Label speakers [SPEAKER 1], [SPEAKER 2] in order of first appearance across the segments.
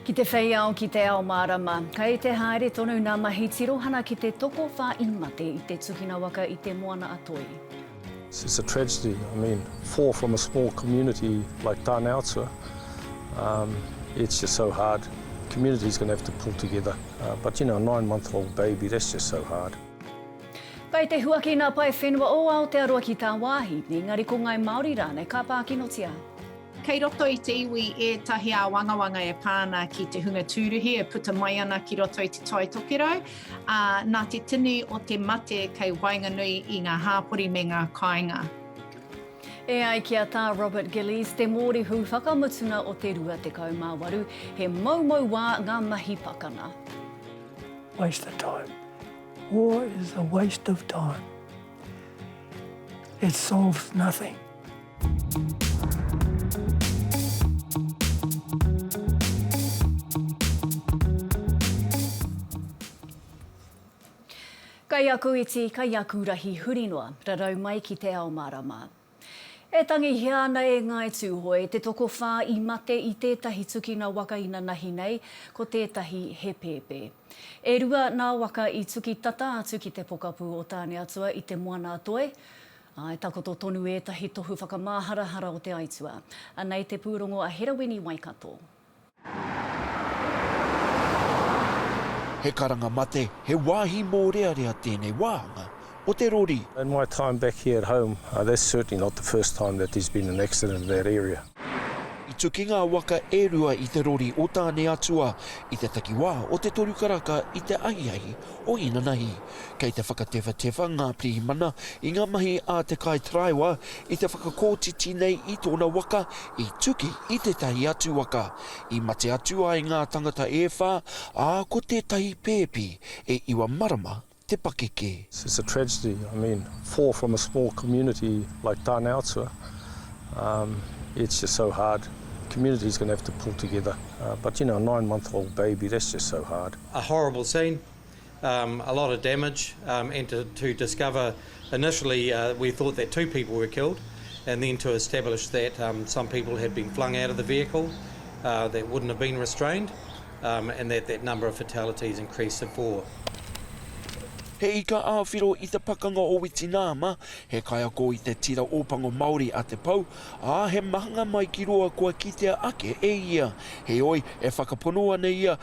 [SPEAKER 1] Ki te whei ao, ki te ao mārama, kei te haere tonu ngā mahi tirohana ki te tokowhā i mate i te tukina waka i Te Moana-a-Toi. It's
[SPEAKER 2] a tragedy, I mean, four from a small community like Tāneatua, um, it's just so hard. Community's going to have to pull together, uh, but you know, a nine month old baby, that's just so hard. Kei
[SPEAKER 1] te huaki nā pae whenua o Aotearoa ki tāwāhi, engari ko ngāi Māori rānei ka pākinotia. Kei roto
[SPEAKER 3] i te iwi ētahi āwangawanga e pā ana ki te hunga tūruhi e puta mai ana ki roto i Te Tai Tokerau, ā, nā te tini o te mate kei waenganui i ngā hāpori me ngā kāinga.
[SPEAKER 1] E ai ki a Tā Robert Gillies, te mōrehu whakamutunga o te 28, he moumou wā ngā mahi pakanga.
[SPEAKER 4] Waste of time. War is a waste of time. It solves nothing.
[SPEAKER 1] Kai aku iti, kai aku rahi huri noa, rarau mai ki te ao marama. E tangihia ana e Ngāi Tūhoe te tokowhā i mate i tētahi tukina waka inanahi nei, ko tētahi he pēpē. E rua nā waka i tuki tata atu ki te pokapū o Tāneatua i Te Moana-a-Toi. I takoto tonu ētahi tohu whakamāharahara o te aituā. Anei te pūrongo a Herawini Waikato.
[SPEAKER 5] He karanga mate, he wāhi mōrearea tēnei wāhanga o te rori. In my time back
[SPEAKER 2] here at home, that's certainly not the first time that there's been an accident in that area. I tuki
[SPEAKER 5] ngā waka e rua i te rori o Tāne Atua i te takiwā o Te Toru Karaka i te ahiahi o Inanahi. Kei te whakatewhatewha ngā pirihimana i ngā mahi a te kaitaraiwa i te whakakotiti nei i tōna waka i tuki i tētahi atu waka i mate atu ai ngā tangata e whā, ā, ko tētahi pēpi e iwa marama te pakeke. It's a tragedy,
[SPEAKER 2] I mean, four from a small community like Tāne Atua, um, it's just so hard, the community's going to have to pull together, uh, but you know, a nine month old baby, that's just so hard. A horrible scene,
[SPEAKER 6] a lot of damage and to to discover initially we thought that two people were killed and then to establish that some people had been flung out of the vehicle that wouldn't have been restrained and that that number of fatalities increased to four.
[SPEAKER 5] He ika āwhiro i te pakanga o Witinaama, he kaiako i te tira Ōpango Māori a Te Pou, ā, he mahanga mai ki roa kua kitea ake e ia. Heoi, e whakapono ana ia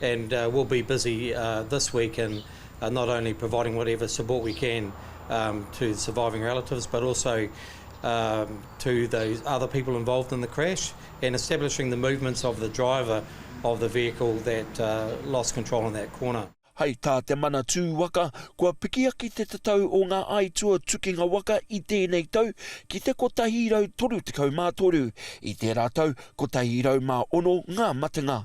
[SPEAKER 6] and we'll be busy this week in not only providing whatever support we can to the surviving relatives but also to the other people involved in the crash and establishing the movements of the driver of the vehicle that lost control in that corner. Hei tā Te
[SPEAKER 5] Manatū Waka, kua pikiaki te tatau o ngā aituā tukinga waka i tēnei tau ki te 133, i tērā tau 106 ngā matenga.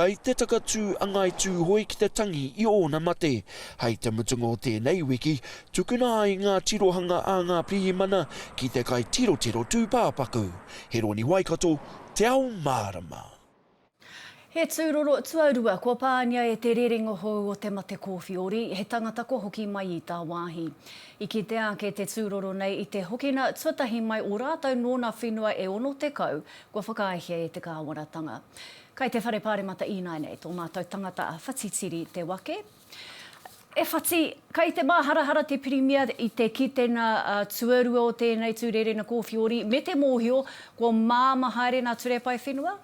[SPEAKER 2] Kai te
[SPEAKER 5] takatū a Ngāi Tūhoe ki te tangi i ōna mate. Hai te mutunga o tēnei wiki, tukuna ai ngā tirohanga a ngā pirihimana ki te kai tirotiro tūpāpaku. He roni Waikato, Te Ao Mārama.
[SPEAKER 1] He tūroro tuarua kua pāngia e te rerenga hou o te mate kōwhiori, he tangata kua hoki mai i tāwāhi. I kitea ake te tūroro nei i te hokina tuatahi mai o rātou nōna whenua e 60, Kua whakaaehia e te kāwanatanga. Kai te Whare Pāremata Ināinei tō mātou tangata a Whatitiri Te Wake. E Whati, kai te māharahara te Pirimia i te kitenga tuarua o tēnei tū rērena kōwhiori me te mōhio kua māmā haere nā Ture Paewhenua?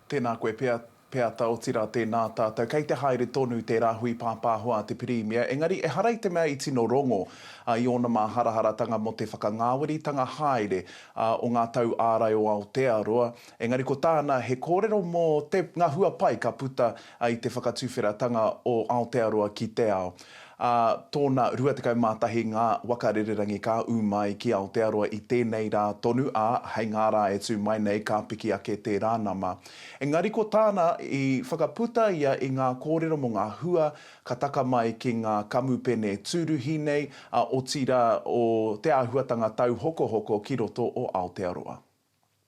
[SPEAKER 7] Tēnā koe
[SPEAKER 1] pea,
[SPEAKER 7] Peata, otirā tēnā tātou. Kei te haere tonu tē rāhui pāpāho a te Pirimia, engari ehara i te mea i tino rongo a i ōna māharaharatanga mō te whakangāweritanga haere a o ngā tau ārai o Aotearoa, engari ko tāna he kōrero mō te, ngā hua pai ka puta i te whakatuwheratanga o Aotearoa ki te ao. Ā tōna 21 ngā waka rererangi ka ū mai ki Aotearoa i tēnei rā tonu, ā, hei ngā rā e tū mai nei ka piki ake tērā nama. Engari ko tāna, i whakaputa ia i ngā kōrero mō ngā hua ka taka mai ki ngā kamupene tūruhi nei, ā, otirā o te āhuatanga tauhokohoko ki roto o Aotearoa.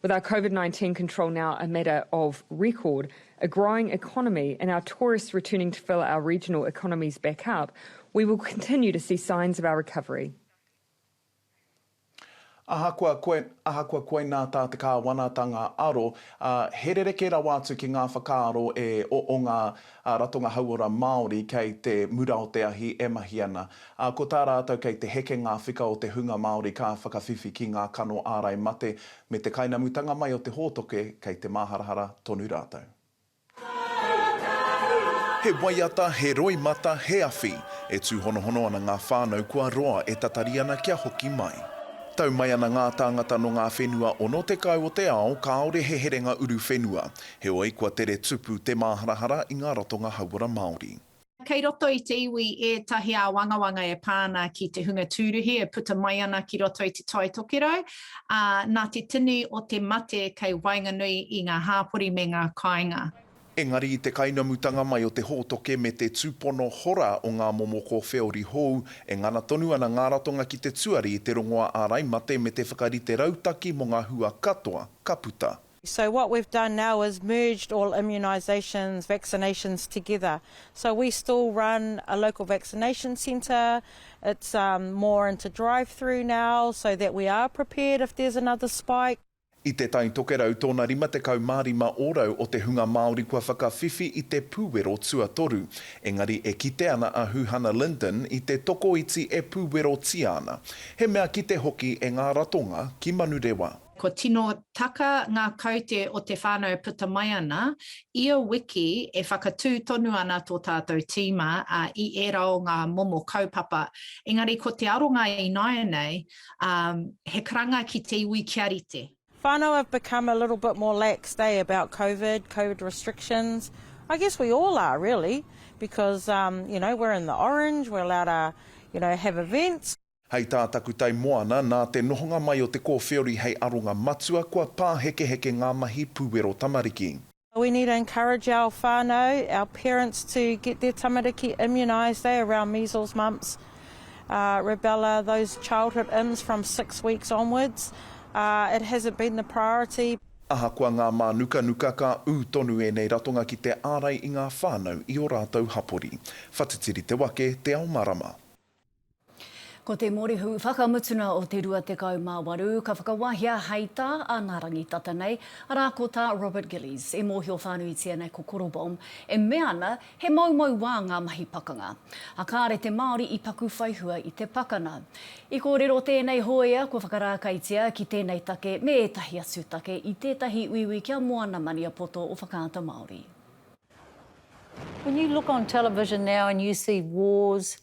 [SPEAKER 8] With our Covid 19 control now a matter of record, a growing economy and our tourists returning to fill our regional economies back up, we will continue to see signs of our recovery.
[SPEAKER 7] Ahakoa koe, ahakoa koinā tā te Kāwanatanga aro, ā, he rerekē rawa atu ki ngā whakaaro e o, o ngā Ā, ratonga hauora Māori kei te mura o te ahi e mahi ana. Ā, ko tā rātou kei te heke ngā whika o te hunga Māori ka whakawhiwhi ki ngā kano ārai mate me te kainamutanga mai o te hōtoke kei te māharahara tonu rātou. He waiata, he roimata, he awhi, e tūhonohono ana ngā whānau kua roa e tatari ana kia hoki mai. Tau mai ana ngā tāngata nō ngā whenua 60 o te ao kāore he herenga uruwhenua. Heoi, kua tere tupu te māharahara i ngā ratonga hauora Māori. Kei roto i
[SPEAKER 3] te iwi ētahi āwangawanga e pā ana ki te hunga tūruhi e puta mai ana ki roto i Te Tai Tokerau, ā, nā te tini o te mate kei waenganui i ngā hāpori me ngā kāinga. Engari i te
[SPEAKER 7] kainamutanga mai o te hōtoke me te tūpono hora o ngā momo kōwheori hou, e ngana tonu ana ngā ratonga ki te tuari i te rongoā ārai mate me te whakarite rautaki mō ngā hua katoa ka puta. So what we've done
[SPEAKER 9] now is merged all immunisations, vaccinations together. So we still run a local vaccination centre, it's um, more into drive-through now so that we are prepared if there's another spike. I Te Tai
[SPEAKER 7] Tokerau tōna 55 ōrau o te hunga Māori kua whakawhiwhi i te pūwero tuatoru, engari e kite ana a Huhana Lyndon i te tokoiti e pūwerotia ana, he mea kite hoki e ngā ratonga ki Manurewa. Kua tino
[SPEAKER 3] taka ngā kaute o te whānau e puta mai ana. Ia wiki e whakatū tonu ana tō tātou tīma i ērā o ngā momo kaupapa. Engari ko te aronga ināianei, he karanga ki te iwi kia rite. Whānau have become
[SPEAKER 9] a little bit more laxed eh about covid, covid restrictions, I guess we all are really because you know we're in the orange, we're allowed to you know have events. Hei tā Takutai
[SPEAKER 7] Moana, nā te nohonga mai o te kōwhiori hei aronga matua, kua pāhekeheke ngā mahi puwero tamariki. We need to
[SPEAKER 9] encourage our whanau, our parents to get their tamariki immunised eh around measles, mumps, rubella, those childhood ims from six weeks onwards. It hasn't been the priority. Ahakoa ngā
[SPEAKER 7] mānukanuka, ka ū tonu ēnei ratonga ki te ārai i ngā whānau i ō rātou hapori. Whatitiri te wake, Te Ao Marama.
[SPEAKER 1] Ko te morihu whakamutuna o te 28 ka whakawahia hei tā a ngā rangi tata nei, arā ko tā Robert Gillies, e mōhio whānuitia nei ko Korobom, e mea ana he moumou wā ngā mahi pakanga. A kāre te Māori i paku whai hua i te pakana. I kōrero tēnei hōia kua whakarākaitia ki tēnei take me ētahi atu take i tētahi uiui kia Moana Maniapoto o Whakaata Māori.
[SPEAKER 10] When you look on television now and you see wars,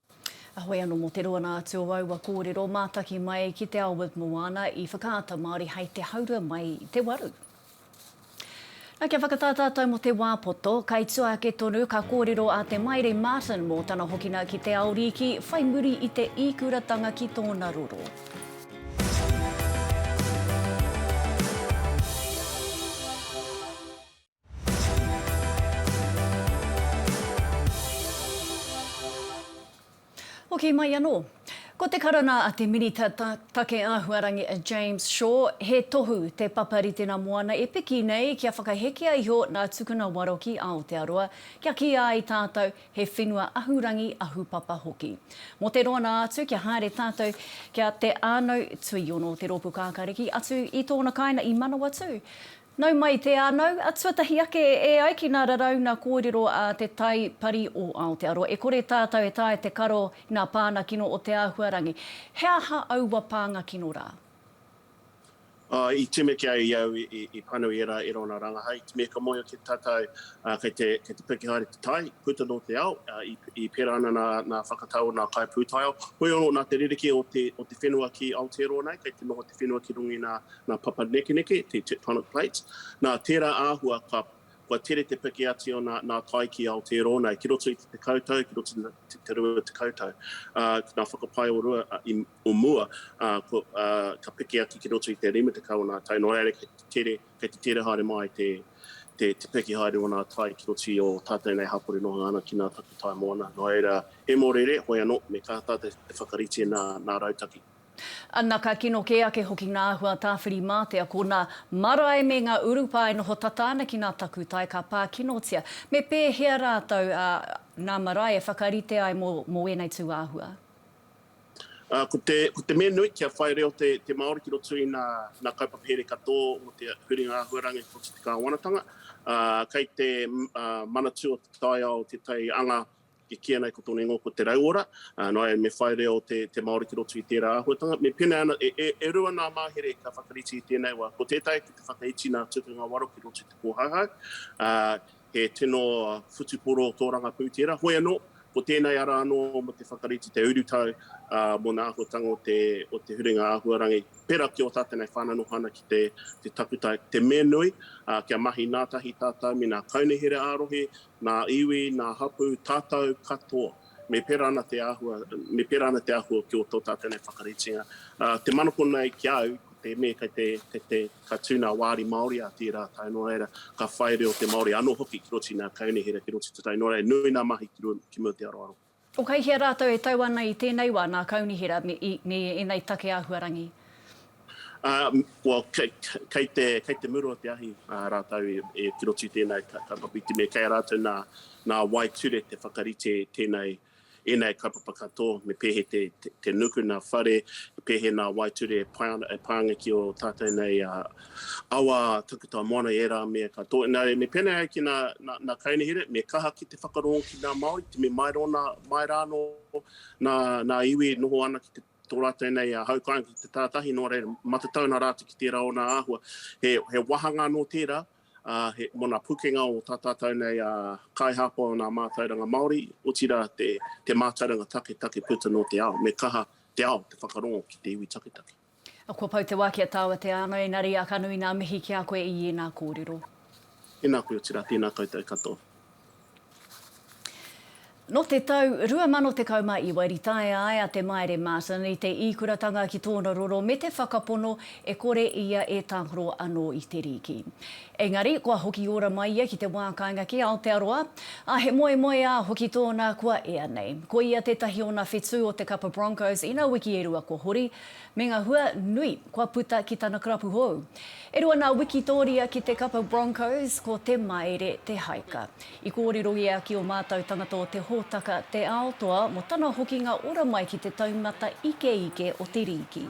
[SPEAKER 1] Ahoi ano mo te roana atu o aua korero mataki mai ki te ao with Moana i Whakaata Maori hai te haurua mai te waru. Na kia whakata tatou mo te wa poto, kai tua ake tonu ka korero a Te Maire Martin mo tana hokina ki te ao riiki whai muri i te ikuratanga ki tona roro. Hoki mai anō. Ko te karanga a te Minita Take Āhuarangi a James Shaw, he tohu te papa ritenga moana e piki nei kia whakahekea iho nā Tukuna Waro ki Aotearoa, kia kīia ai tātou he whenua ahurangi, ahupapa hoki. Mō te roa nā atu kia haere tātou kia Te Ānau Tuiono, te rōpū kākāriki atu i tōna kāinga i Manawatū, Nau mai te anau, a tuatahi ake e ai ki nā raraunga kōrero a Te Tai Pari o Aotearoa, e kore tātau e taea te karo i nā pānga kino o te āhuarangi. He aha aua pānga kino rā?
[SPEAKER 11] I tīmeke ai i au i panu i ērā erona rangahau. Me ka moe ake tātau, kei te piki haere te tai, puta nō te ao, i pērā ana nā whakatau o nā kaipūtaiao. Hoi anō, nā te rerekē o te whenua ki Aotearoa nei, kei te noho te whenua ki runga i nā Nā Papanekeneke, te tectonic plates, nā tērā āhua ka, kua tere te piki ati o nā, nā tai ki Aotearoa nei, ki roto i te tekau tau, ki roto i te rua tekau tau, ā, ki ngā whakapae o rua, ā, i, o mua, ā, ko, ā, ka piki atu ki roto i te rima tekau o nā tai, nō reira kei te tere, kei te tere haere mai te, te, te piki haere o nā tai ki roto i ō tātou nei hapori noho ana ki nā takutai moana. Nō reira, he mōreeree, hoi anō, me kaha tātou te whakarite nā, nā Rautaki. Ana ka
[SPEAKER 1] kino kē ake hoki ngā āhua tāwhirimātea, ko nā marae me ngā urupā e noho tata ana ki nā takutai ka pā kinotia. Me pēhea rātou, ā, nā marae e whakarite ai mō, mō ēnei tūāhua?
[SPEAKER 11] Ā, ko te, ko te mea nui kia whai reo te, te Māori ki roto i nā, nā kaupapahere katoa o te huringa āhuarangi o te kāwanatanga. Ā, kei te, ā, Manatū o te Taiao tētahi anga E kī ana ko tōna ingoa ko Te Rauora, nō reira me whai reo te Māori ki roto i tērā āhuatanga. Me pēnei ana, e rua nā mahere ka whakarite i tēnei wā. Ko tētahi ki te whakaiti nā Tukanga Waro ki roto i te kōhauhau, he tino whutupōro tōrangapū tērā. Hoi anō, ko tēnei ara anō mō te whakarite te urutau mō nā āhuatanga o te huringa āhuarangi pērā ki ō tātou nei whānau noho ana ki te takutai. Te mea nui, kia mahi nātahi tātou me nā kaunehere ā-rohe nā iwi, nā hapū, tātau katoa, me pērā ana te āhua, me pērā ana te āhua ki ō tō tātau nei whakaritenga. Te manako nei ki a au, ko te me, kei te, kei te, ka tū nā wāri Māori a tērā tae, nō reira, ka whai reo te Māori anō hoki ki roto i nā kaunihera, ki roto i te tai, nō reira, nui nā mahi ki mua ki te aroaro. O kei hea rātou
[SPEAKER 1] e tau ana i tēnei wā, nā Kaunihera me, i, me ēnei take āhuarangi? Ā,
[SPEAKER 11] well, kei, kei te, kei te muru o te ahi ā rātou e, e tirotu i tēnei ka, kaupapa iti me kei a rātou nā, nā Waeture te whakarite tēnei, ēnei kaupapa katoa me pēhe te, te, te nuku nā whare, pēhe nā Waeture e pae ana, e pānga ki ō tātou nei ā, awa takuta moana, ērā mea katoa. Nā reira, me pēnei ai ki nā, nā, nā Kaunihere, me kaha ki te whakarongo ki nā Māori, te me mai, rona, mai rānō nā, nā iwi e noho ana ki te tō rātou nei a Haukainga ki te tātahi, nō reira, matatauna rātou ki tērā o nā āhua. He, he wāhanga anō tērā, uh, he, mō nā pūkenga o tā tātou nei a uh, kaihāpai o nā mātauranga Māori, otirā te, te mātauranga taketake puta nō te ao, me kaha te ao, te whakarongo ki te iwi taketake. Kua pau te
[SPEAKER 1] wā ki a tāua te ānga, engari a ka nui ngā mihi ki a koe i ēnā kōrero. Tēnā koe
[SPEAKER 11] otirā, tēnā koutou katoa.
[SPEAKER 1] Nō te tau 2019 i taea ai a Te Maire Martin i te īkuratanga ki tōna roro me te whakapono e kore ia e tākaro anō i te rīki. Engari, kua hoki ora mai ia ki te wā kāinga ki Aotearoa, ā, he moemoeā hoki tōna kua ea nei. Ko ia tētahi o nā whetū o te kapa Broncos i nā wiki e rua kua hori, me ngā hua nui kua puta ki tana karapu hou. E rua nā wikitōria ki te kapa Broncos, ko Te Maire Te Haika. I kōrero ia ki ō mātou tangata o te hōtaka Te Ao Toa mō tana hokinga ora mai ki te taumata ikeike o te rīki.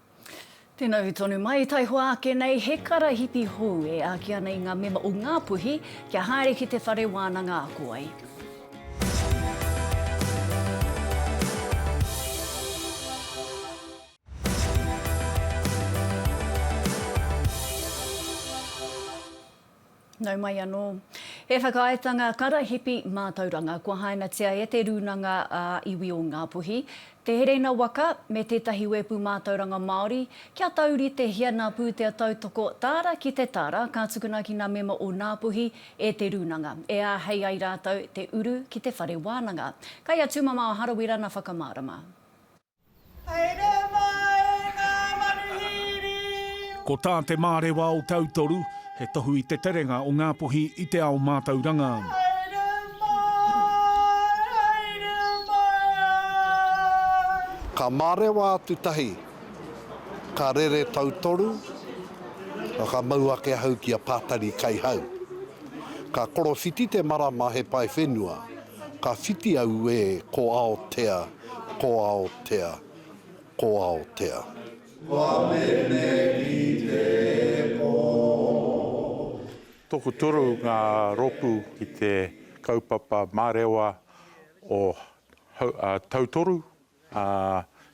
[SPEAKER 1] Tēnā hui tonu mai, taihoa ake nei he karahipi hou e āki ana i ngā mema o Ngā Puhi kia haere ki te whare wānanga ako ai. Nau mai anō. He whakaaetanga karahipi mātauranga kua hainatia e Te Rūnanga ā Iwi o Ngā Puhi, Te Hereina Waka me tētahi wēpu mātauranga Māori kia tauritehia nā pūtea tautoko Tāra ki te Tāra ka tukuna ki nā mema o Ngā Puhi e Te Rūnanga e āhei ai rātou te uru ki te whare wānanga. Kei a Tūmamao Harawira na whakamārama. Haere mai ngā
[SPEAKER 12] manuhiri! Ko tā Te Mārewa o Tautoru, he tohu i te terenga o Ngāpuhi i te ao mātauranga.
[SPEAKER 13] Ka mārewa atu tahi, ka rere tautoru, ka mau ake ahau ki a Pātari Kaihau. Ka korowhiti te marama he pae whenua. Ka whiti au e ko Aotea, ko Aotea, ko Aotea. Kua mene ki te
[SPEAKER 14] po. Tokuturu ngā rōpū ki te kaupapa mārewa o Tautoru,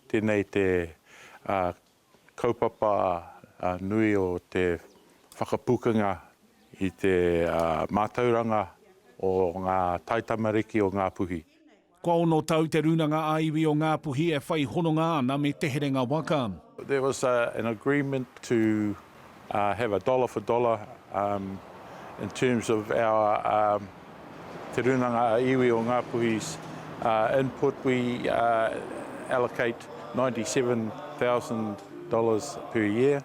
[SPEAKER 14] tēnei te kaupapa nui o te whakapukanga i te mātauranga o ngā taitamariki o Ngāpuhi. Kua ono tau
[SPEAKER 12] te Rūnanga ā-Iwi o Ngāpuhi e whai hononga ana me Te Herenga Waka. There was
[SPEAKER 14] an agreement to. have a dollar for dollar in terms of our Te Rūnanga a Iwi o Ngāpuhi's input, we allocate ninety seven thousand dollars
[SPEAKER 12] per year.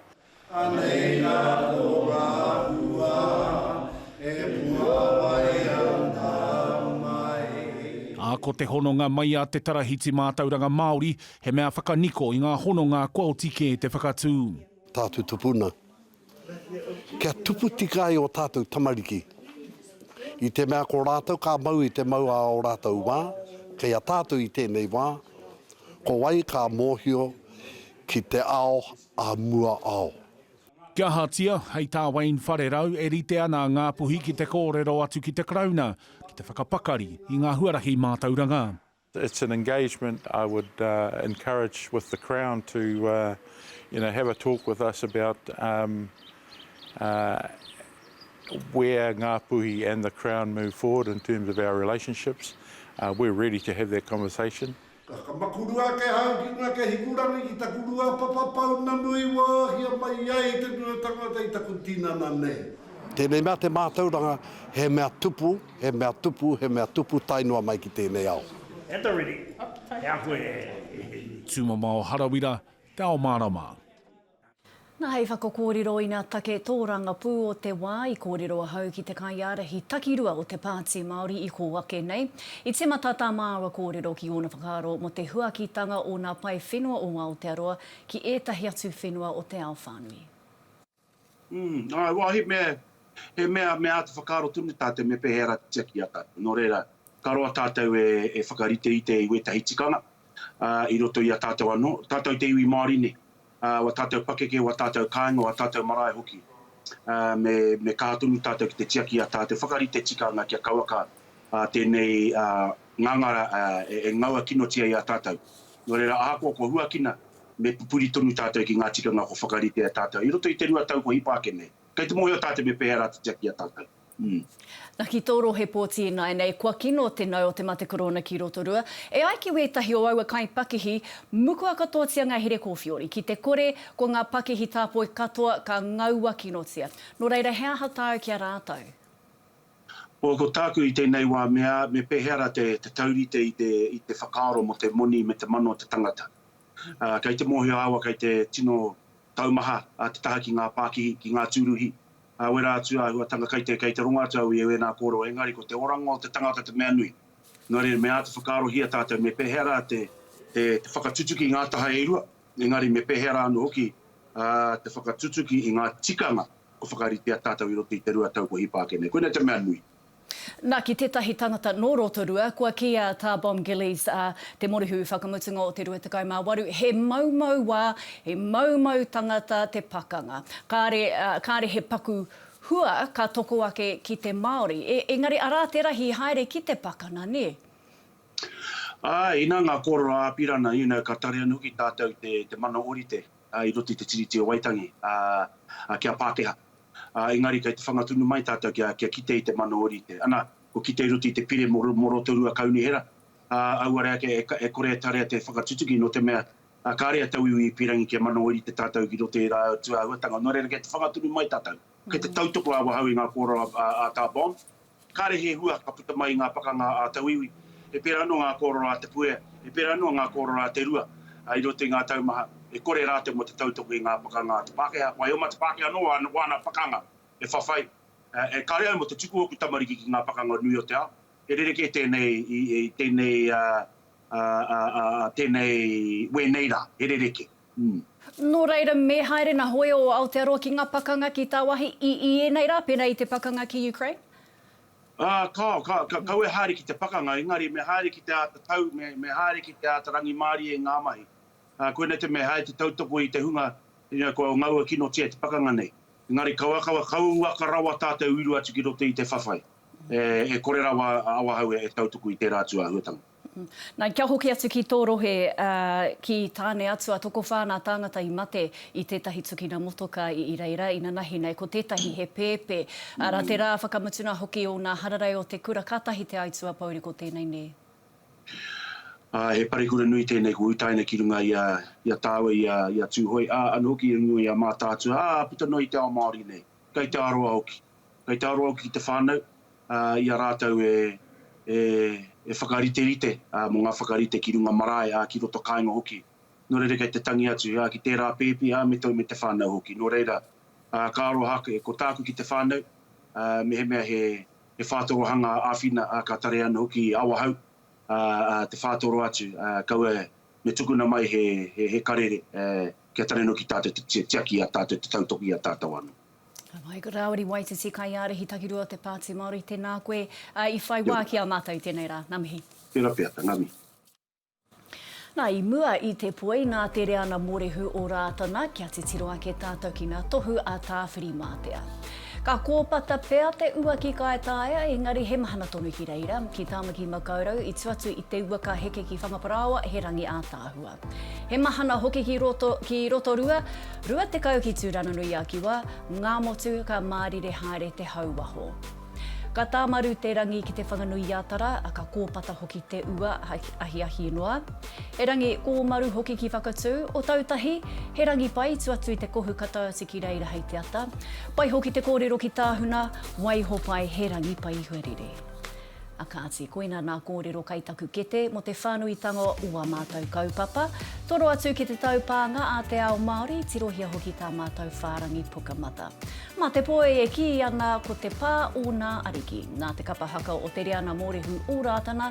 [SPEAKER 12] Ā, ko te hononga mai a Te Tarahiti Mātauranga Māori, he mea whakaniko i ngā hononga kua oti kē te whakatū. Tātou tupuna.
[SPEAKER 13] Kia tupu tika ai o tātou tamariki. I te mea ko rātou ka mau i te mau a o rātou wā, kei a tātou i tēnei wā, ko wai ka mōhio ki te ao a mua ao. Kia
[SPEAKER 12] ahatia, hei tā Wayne Wharerau, e rite ana a Ngāpuhi ki te kōrero atu ki te Karauna, ki te whakapakari i ngā huarahi mātauranga. It's an
[SPEAKER 14] engagement I would encourage with the Crown to you know have a talk with us about where Ngā Puhi and the Crown move forward in terms of our relationships. We're ready to have that conversation. Ka makurua
[SPEAKER 13] ake ahau ki ngā ke hikurangi ki taku rua papa pounamu i wāhia mai ai te rua tangata i taku tinana nei. Tēnei mea te mātauranga he mea tupu. He mea tupu, he mea tupu, tae noa mai ki tēnei ao. At the ready,
[SPEAKER 12] he ako e hēni. Tūmamao Harawira, te ao mārama.
[SPEAKER 1] Nā hei whakakōrero ina take tōrangapū o te wā i kōrero ahau ki te kaiārahi takirua o te Pāti Māori i kō ake nei. I tīmata tā māua kōrero ki ōna whakaaro mō te huakitanga o ngā pae whenua o Aotearoa ki ētahi atu whenua o te ao whānui. Umm, āe, wā, he
[SPEAKER 11] mea, he mea, mea āta whakaaro tonu tātou me pēhea rā te tiaki i a tātou. Nō reira, ka roa tātou e, e whakariterite i wētahi tikanga, ā, i roto i a tātou anō, tātou te iwi Māori nei, ā, wā tātou pakeke, wā tātou kāinga, wā tātou marae hoki, ā, me, me kaha tonu tātou ki te tiaki i a tātou whakarite tikanga kia kauaka, ā, tēnei, ā, ngangara, ā, e, e ngaua kinotia i a tātou. Nō reira, ahakoa kua huakina, Me pupuri tonu tātou ki ngā tikanga kua whakarite e a tātou i roto i te rua tau kua hipa ake nei. Kei te mōhio tātou me pēhea rā te tiaki i a tātou. Umm.
[SPEAKER 1] Na ki tō rohe pōti ināinei kua kino te nau o te mate korōna ki Rotorua. E ai ki wētahi o aua kaipakihi, mukua katoatia ngā here kōwhiori. Ki te kore, ko ngā pakihi tāpoi katoa ka ngaua kinotia. Nō reira he aha tāu ki a rātou?
[SPEAKER 15] Ko, ko tāku i tēnei wā mea, me pēhea rā te, te taurite i te, i te whakaaro mō te moni me te mano o te tangata. Ā, kei te mōhio āua kei te tino taumaha ā te taha ki ngā pākihi, ki ngā tūruhi, ā, wera atu āhuatanga kei te, kei te rongo atu au i ēnā kōrero, engari ko te oranga o te tangata te mea nui. Nō reira, me āta whakaarohia tātou me pēhea rā te, te, te whakatutuki i ngā taha e rua, engari me pēhea rā anō hoki, ā, te whakatutuki i ngā tikanga Kua whakaritea tātou i roto i te rua tau kua hipa ake nei. Koinei te mea nui. Na, ki
[SPEAKER 1] tetahi tangata no Rotorua, kua kiia ta Bom Gillies a te Morehu whakamutunga o te rua tekau ma waru, he maumau wa, he maumau tangata te pakanga. Kare, kare he paku hua ka toko ake ki te Maori. E, engari ara te rahi haere ki te pakana, ne? Ae, ina
[SPEAKER 15] nga korero a Apirana, you know, ka tare anu hoki tatou te, te mana orite. i roto i te Tiriti o Waitangi, ā, ki a Pākehā. Ā, engari kei te whanga tonu mai tātou kia, kia kite i te mano orite. Anā, kua kite i roto i te pire mō, mō Rotorua Kaunihera, ā, auare ake e, e kore e tarea te whakatutuki nō te mea, ā, kāre a tauiwi i pīrangi kia mano orite tātou ki roto i ērā atu āhuatanga. Nō reira, kei te whanga tonu mai tātou. Kei te tautoko awahou i ngā kōrero a Tā Bond. Kāre he hua ka puta mai i ngā pakanga a Tauiwi. He pērā noa ngā kōrero a Te Puea, he pērā noa ngā kōrero a Te Rua i roto i ngā tau maha e kore rātou mō te tautoko i ngā pakanga a te Pākehā. Wai oma te Pākehā nō wāna pakanga e whawhai, e kare ai mō te tuku o ōku tamariki ki ngā pakanga o nui o te ao. He rerekē tēnei i tēnei, tēnei, wēnei rā. He rerekē. Nō
[SPEAKER 1] reira, me haere nā hoe o Aotearoa ki ngā pakanga ki tāwāhi i i ēnei rā, pērā i te pakanga ki Ukraine? Ā, kāo, ka, ka,
[SPEAKER 15] kaua e haere ki te pakanga, engari me haere ki te āta tau, me, me haere ki te āta rangimārie i ngā mahi. Ā, koinei te mea, he haere te tautoko i te hunga, you know, kua ngaua kinotia te pakanga nei. Engari kaua, kaua, kaua uaka rawa tā te uiru atu ki roto i te whawhai, e, e kore rawa a Awahou e, e tautuku i tērā atu āhuatanga. Nā, kia hoki
[SPEAKER 1] atu ki tō rohe, ā, ki Tāne-atua, tokowhā nā tāngata i mate i tētahi tukina motoka i reira, inanahi nei, ko tētahi he pēpē. Arā, te rā whakamutunga hoki o ngā hararei o te kura, kātahi te aituā pouri ko tēnei nē?
[SPEAKER 15] Ā, he parekura nui tēnei kua utaina ki runga i a, i a tāua, i a, i a Tūhoe, ā, anō hoki i runga i a Mātaatua, ā, puta noa i te ao Māori nei. Kei te aroa hoki. Kei te aroa hoki ki te whānau, ā, i a rātou e, e, e whakariterite, ā, mō ngā whakarite ki runga marae, ā, ki roto kāinga hoki. Nō reira kei te tangi atu, ā, ki tērā pēpi, ā, me te, me te whānau hoki. Nō reira, ā, ka aroha ake, ko tāku ki te whānau, ā, mehemea he, he whātorohanga āwhina, ā, ka tarea ana hoki i Awahou, ā, ā, te whātoro atu, ā, kaua Me tukuna mai he, he, he karere, eh, kia tarenuki tātou te ti, tiaki i a tātou, te tautoki i a tātou anō. Michael Rāwiri,
[SPEAKER 1] Waititi, Kaiārahi takirua o te Pāti Māori, tēnā koe, ā, i whai Kia wā ora. ki a mātou i tēnei rā. Ngā mihi. Tēnā pea, ngā mihi. Nā, i mua i te poi, nā te reana mōrehu o Rātana, kia titiro ake tātou ki ngā tohu a Tāwhirimātea. Ka kōpata pea te ua ki Kaetaia, engari he mahana tonu ki reira, ki Tāmaki Makaurau, i tu atu i te ua ka heke ki Whangaparāoa, he rangi ātaahua. He mahana hoki ki roto, ki Rotorua, 20 ki Tūranganui-a-Kiwa, Ngāmotu, ka mārire haere te hau waho. Ka tāmaru te rangi ki Te Whanganui-a-Tara, ka kōpata hoki te ua, ahiahi noa. He rangi kōmaru hoki ki Whakatū, o Tautahi, he rangi pai tu atu i te kohu ka tau atu ki reira hei te ata. Pai hoki te kōrero ki Tāhuna, waiho pai he rangi pai huarere. A kāti, koina nā kōrero kai taku kete mo te whānuitanga o wā mātau kaupapa. Toro atu ki te taupānga a te ao Māori, tirohia hoki tā mātau whārangi Pukamata. Mā te poi e kī ana ko te pā ōnā ariki. Nā te kapa haka o Te Reana Mōrehu o Rātana,